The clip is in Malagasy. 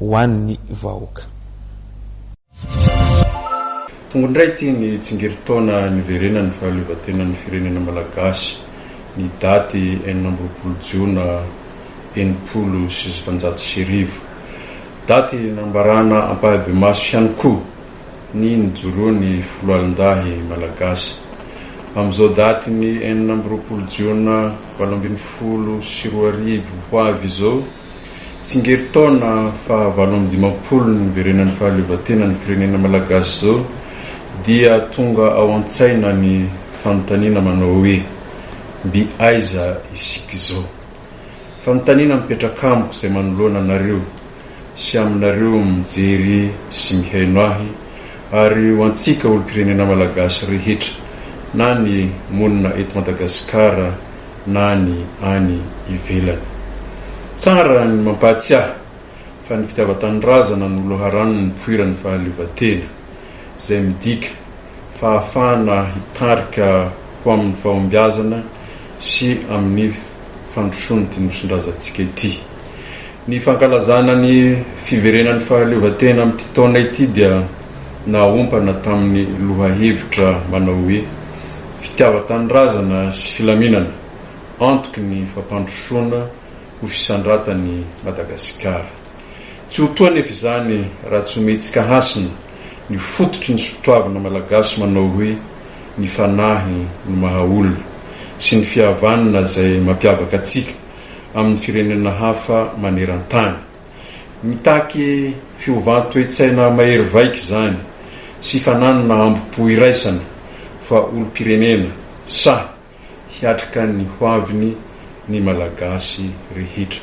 ho an'ny vahoaka. Tonga indray ity ny tsingerin-taona niverenan'ny fahaleovantenan'ny firenena malagasy, ny daty enina amby roapolo jiona enimpolo sy sivinjato sy arivo. Daty nambarana ampahibemaso ihany koa ny nijoroan'ny foloalindahy malagasy. Amin'izao datin'ny enina amby roapolo jiona valo ambin'ny folo sy roa arivo ho avy izao, Tsingery taona faha valo amby dimampolo ny niverenan'ny fahaleovantenan'ny firenena malagasy izao dia tonga ao an-tsaina ny fanontaniana manao hoe, mby aiza isika izao? Fanontaniana mipetraka amiko izay manoloana anareo sy aminareo mijery sy mihaino ahy ary ho antsika olom-pirenena malagasy rehetra na ny monina eto Madagasikara na ny any ivelany. Tsara ny mampahatsiahy fa ny fitiavan-tanindrazana no loharano nipoiran'ny fahaleovantena, izay midika fahafahana hitarika ho amin'ny fahombiazana sy amin'ny fandrosoan'ity nosin-drazantsika ity. Ny fankalazana ny fiverenan'ny fahaleovantena amin'ity taona ity dia nahaompana tamin'ny lohahevitra manao hoe, Fitiavan-tanindrazana sy filaminana, antoky ny fampandrosoana ho fisandratan'i Madagasikara. Tsy ho toa anefa izany raha tsy omentsika hasina ny fototry ny sotoavina malagasy manao hoe, Ny fanahy no maha olona, sy ny fihavanana izay mampiavaka antsika amin'ny firenena hafa maneran-tany. Mitaky fiovan-toetsaina mahery vaika izany sy fananana ambo-po iraisana fa olom-pirenena sahy hiatrika ny hoaviny ny Malagasy rehetra.